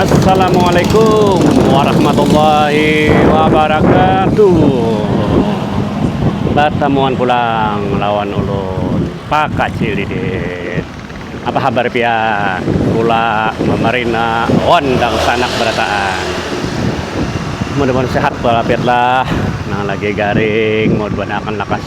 Assalamualaikum warahmatullahi wabarakatuh Batamuan pulang lawan ulun Pakacil Didit Apa habar pian Kula Mamarina wan dangsanak barataan Mudah-mudahan sehat walafiatlah Nang lagi garing Mudah-mudahan akan lakas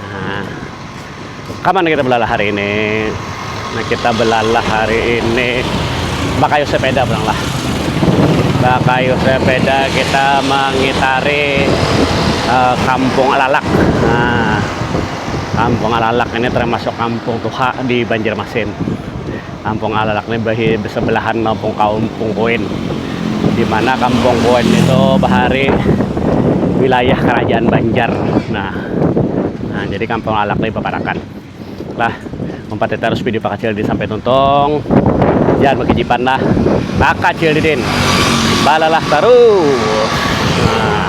Nah, kaman kita belalah hari ini. Nah, kita belalah hari ini bakayu sepeda pulang lah. Bakayu sepeda kita mengitari uh, Kampung Alalak. Nah, Kampung Alalak ini termasuk kampung tuha di Banjarmasin. Kampung Alalak ni bersebelahan lawan Kampung Kuin, di mana Kampung Kuin ni tu bahari wilayah Kerajaan Banjar. Nah, nah jadi Kampung Alalak ni baparakan. Lah, umpati tarus video Pakacil Didin sampai tuntung. Jangan bakijipan lah. Pakacil Didin, balalah tarus! Nah.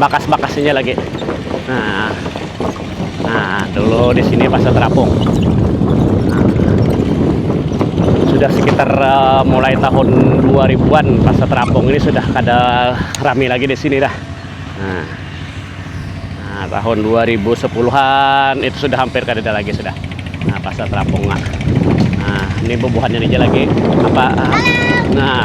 bakas-bakas ini lagi nah nah dulu di sini pasar terapung sudah sekitar uh, mulai tahun 2000-an pasar terapung ini sudah kada rami lagi di sini dah nah, nah tahun 2010-an itu sudah hampir kada ada lagi sudah nah pasar terapung nah, nah ini bubuhannya aja lagi apa nah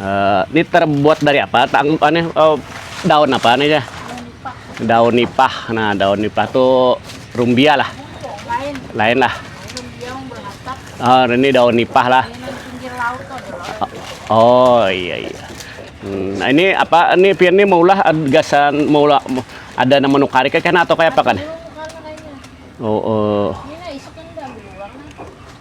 Uh, ini terbuat dari apa? Tang aneh uh, daun apa nih ya? Daun nipah. Nah, daun nipah tuh rumbia lah. Lain. Lain lah. Oh, ini daun nipah lah. Oh, iya iya. Hmm, nah, ini apa ini pian ini maulah gasan maulah ada nama nukarik kan atau kayak apa kan? Oh, oh.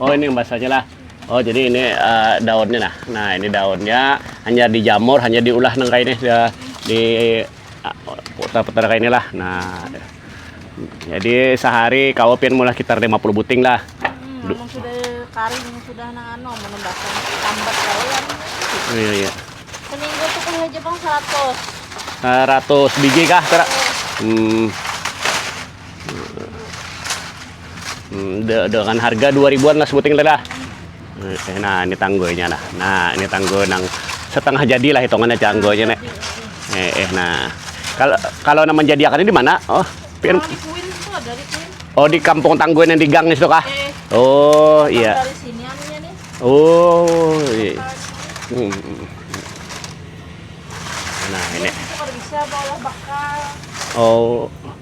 oh ini basanya lah oh jadi ini uh, daunnya nah nah ini daunnya hanya dijamur hanya diulah nang kayak ini ya, di ah, putar-putar kayak inilah nah jadi sehari kau pian mulai sekitar 50 buting lah hmm, sudah karing sudah nang anu menembakkan tambat kau yang iya iya seminggu tuh kan aja bang 100 100 biji kah kira hmm hmm, de dengan harga dua ribuan lah sebuting lah eh, nah ini tanggoynya lah nah ini tanggo nang setengah jadi lah hitungannya tanggoynya nek eh, eh nah kalau kalau nama jadi akan di mana oh pin oh di kampung tanggoy yang di gang itu kah eh, oh iya oh iya hmm, hmm, hmm. nah ini oh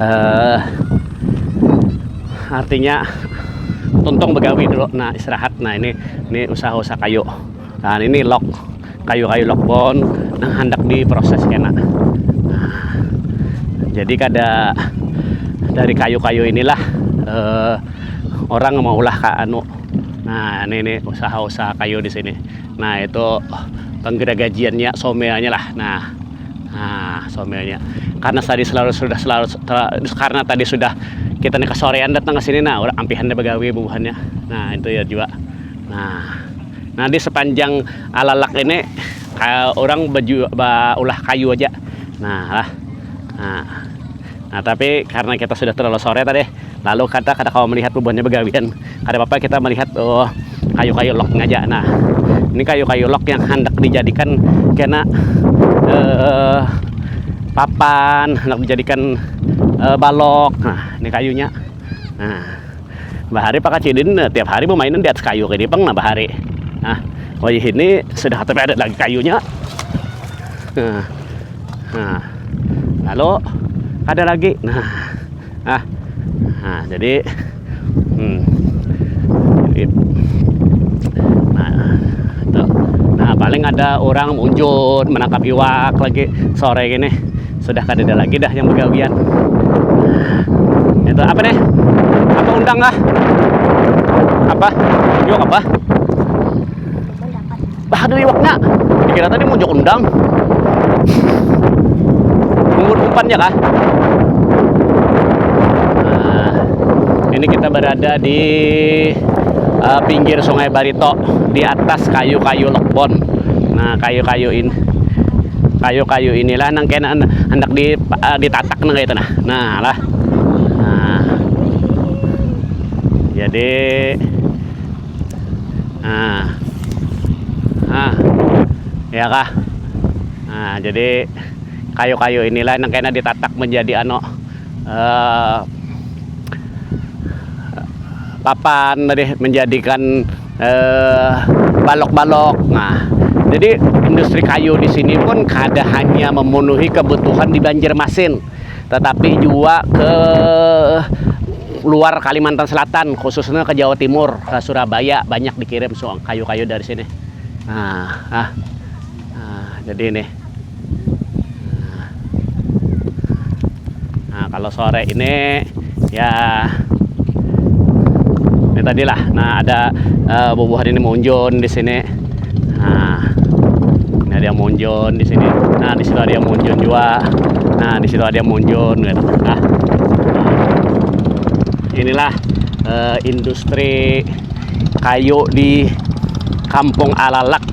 uh, artinya tuntung begawi dulu nah istirahat nah ini ini usaha-usaha kayu nah ini lock kayu-kayu lock bon nah hendak diproses kena nah, jadi kada dari kayu-kayu inilah uh, orang mau ulah ka anu nah ini ini usaha-usaha kayu di sini nah itu penggeragajiannya someanya lah nah nah somilnya karena tadi selalu sudah selalu karena tadi sudah kita nih kesorean datang ke sini nah orang ampihan deh begawi bubuhannya nah itu ya juga nah nah di sepanjang alalak ini orang baju ulah kayu aja nah lah nah Nah, tapi karena kita sudah terlalu sore tadi, lalu kata kada kawa melihat bubuhannya begawian. Kada apa-apa kita melihat oh, kayu-kayu log ngaja. Nah, ini kayu-kayu log yang hendak dijadikan kena eh, papan, hendak dijadikan eh, balok. Nah, ini kayunya. Nah, Bahari pang kacil ini nah tiap hari bemainan di atas kayu ini pang nah bahari. Nah, wayah ini sudah tapi ada lagi kayunya. Nah, nah. lalu ada lagi. Nah, nah, nah jadi hmm, paling ada orang unjun menangkap iwak lagi sore gini sudah kadada lagi dah yang begawian itu apa nih apa undang lah apa yuk apa bah ada iwaknya dikira tadi mau jok undang umur umpannya kah nah, ini kita berada di uh, pinggir sungai Barito di atas kayu-kayu lekbon nah kayu-kayu ini kayu-kayu inilah nang kena hendak di, uh, ditatak nang itu nah. Nah lah. Nah. Jadi nah. Nah. Ya kah? Nah, jadi kayu-kayu inilah nang kena ditatak menjadi ano uh, papan tadi menjadikan balok-balok. Nah, jadi industri kayu di sini pun kada hanya memenuhi kebutuhan di Banjarmasin, tetapi jua ke luar Kalimantan Selatan, khususnya ke Jawa Timur, ke Surabaya banyak dikirim kayu-kayu dari sini. Nah, jadi ini. nah, nah kalau sore ini ya ini tadi lah nah ada uh, bubuhan ini munjun di sini nah ini ada yang munjun di sini nah di situ ada yang munjun juga nah di situ ada yang munjun gitu nah inilah uh, industri kayu di Kampung Alalak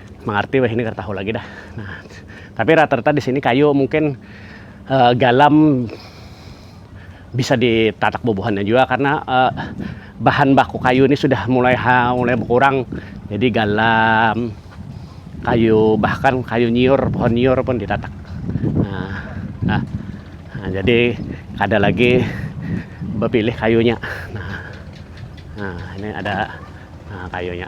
Mangarti wahini kada tahu lagi dah. Nah, tapi rata-rata di sini kayu mungkin uh, galam bisa ditatak bubuhannya juga karena uh, bahan baku kayu ini sudah mulai ha, mulai berkurang jadi galam kayu bahkan kayu nyiur pohon nyiur pun ditatak nah, nah, nah jadi ada lagi berpilih kayunya nah, nah ini ada nah, kayunya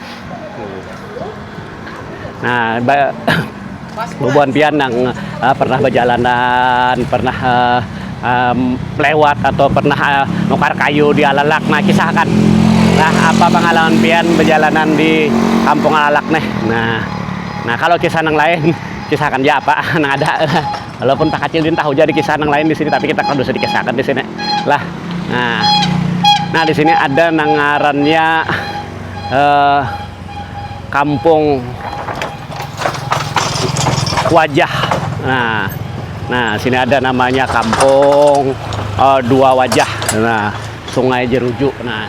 Nah, ba bubuhan pian nang uh, pernah bajalanan, pernah uh, um, lewat atau pernah uh, nukar kayu di alalak, nah kisahkan. Nah, apa pengalaman pian bajalanan di kampung alalak nih? Nah, nah kalau kisah nang lain kisahkan ja apa nang ada. Walaupun tak kacil din tahu ja di kisah nang lain di sini tapi kita kada usah dikisahkan di sini. Lah. Nah. Nah, di sini ada nang ngarannya eh, kampung wajah nah nah sini ada namanya kampung eh, dua wajah nah sungai jeruju nah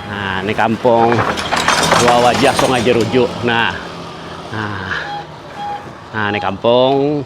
nah ini kampung dua wajah sungai jeruju nah nah nah ini kampung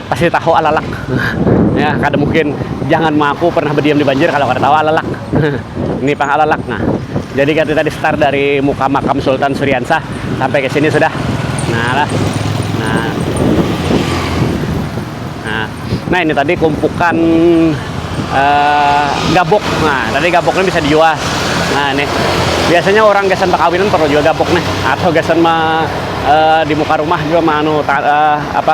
pasti tahu alalak. ya, kada mungkin jangan mengaku pernah berdiam di banjir kalau kada tahu alalak. Ini pang alalak. Nah, jadi kita tadi start dari muka makam Sultan Suriansah sampai ke sini sudah. Nah, lah. Nah. Nah, nah ini tadi kumpukan uh, gabuk. Nah, tadi gabuknya bisa dijual. Nah, ini biasanya orang gasan perkawinan perlu juga gabuk nih atau gasan ma, uh, di muka rumah juga manu uh, eh, apa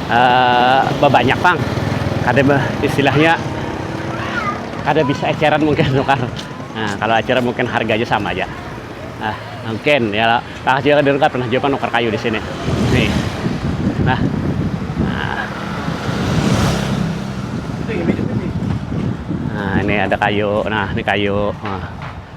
babanyak pang kada istilahnya kada bisa eceran mungkin nukar nah kalau eceran mungkin harganya sama aja nah mungkin ya lah juga kan nukar pernah juga nukar kayu di sini nih nah nah ini ada kayu nah ini kayu nah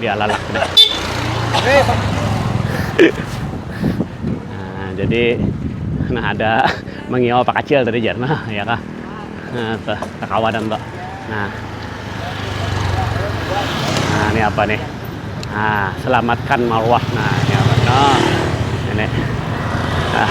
dia lalak deh. nah, jadi nah ada mengiau pak kacil tadi jar nah ya kah nah, tuh kakawanan tuh nah nah ini apa nih nah selamatkan marwah nah ini apa nah ini nah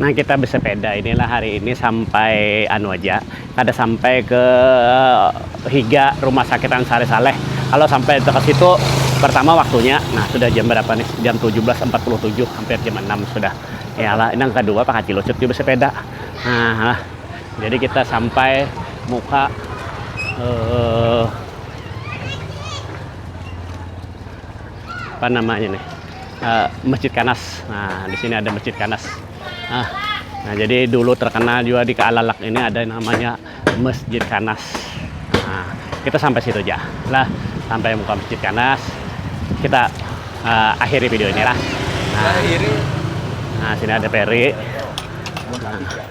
Nah kita besepeda ini lah hari ini sampai anu aja kada sampai ke higa rumah sakit Ansari Saleh kalau sampai ke situ pertama waktunya nah sudah jam berapa nih jam 17.47 hampir jam 6 sudah ya lah yang kedua Pak Haji Lucut juga bersepeda nah jadi kita sampai muka uh, apa namanya nih uh, Masjid Kanas. Nah, di sini ada Masjid Kanas. Nah, nah jadi dulu terkenal juga di Kaalalak ini ada namanya Masjid Kanas. Nah, kita sampai situ aja. Lah, sampai muka Masjid Kanas, kita uh, akhiri video ini lah. Nah, nah sini ada peri. Nah.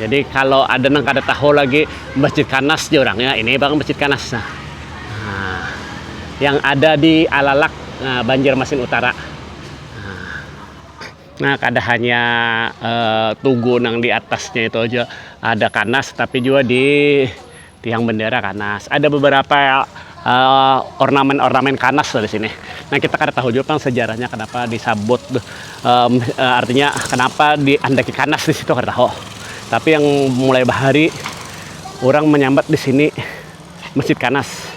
Jadi kalau ada nang kada tahu lagi Masjid Kanas jar urang ya, ini pang Masjid Kanas nah. nah yang ada di Alalak, nah, Banjarmasin Utara. Nah, nah kada hanya uh, tugu nang di atasnya itu aja ada Kanas tapi juga di Tiang bendera Kanas. Ada beberapa ornamen-ornamen Kanas lah di sini. Nah, kita kada tahu jua pang sejarahnya kenapa disabut artinya kenapa diandaki Kanas di situ kada tahu. Tapi yang mulai bahari urang menyambat di sini Masjid Kanas.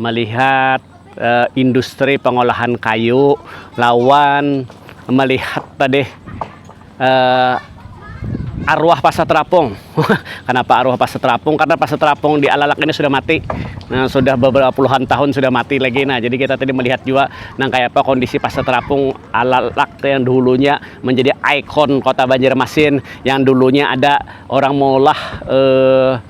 melihat industri pengolahan kayu lawan melihat tadi arwah pasar terapung kenapa arwah pasar terapung karna pasar terapung di alalak ini sudah mati sudah beberapa puluhan tahun sudah mati lagi nah jadi kita tadi melihat jua nang kaya apa kondisi pasar terapung alalak yang dahulunya menjadi ikon kota banjarmasin yang dulunya ada orang maulah.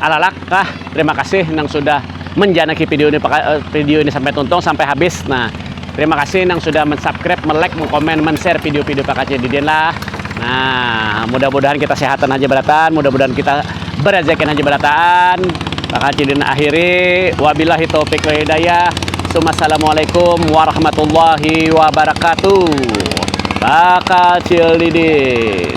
alalak kah terima kasih nang sudah menjanaki video ini eh, video ini sampai tuntung sampai habis nah terima kasih nang sudah mensubscribe melek mengkomen men-share video-video Pak Kacil Didin lah nah mudah-mudahan kita sehatan aja beratan mudah-mudahan kita berezekin aja beratan Pak Kacil Didin akhiri wabillahi taufiq wa hidayah Assalamualaikum warahmatullahi wabarakatuh Pak Kacil Didin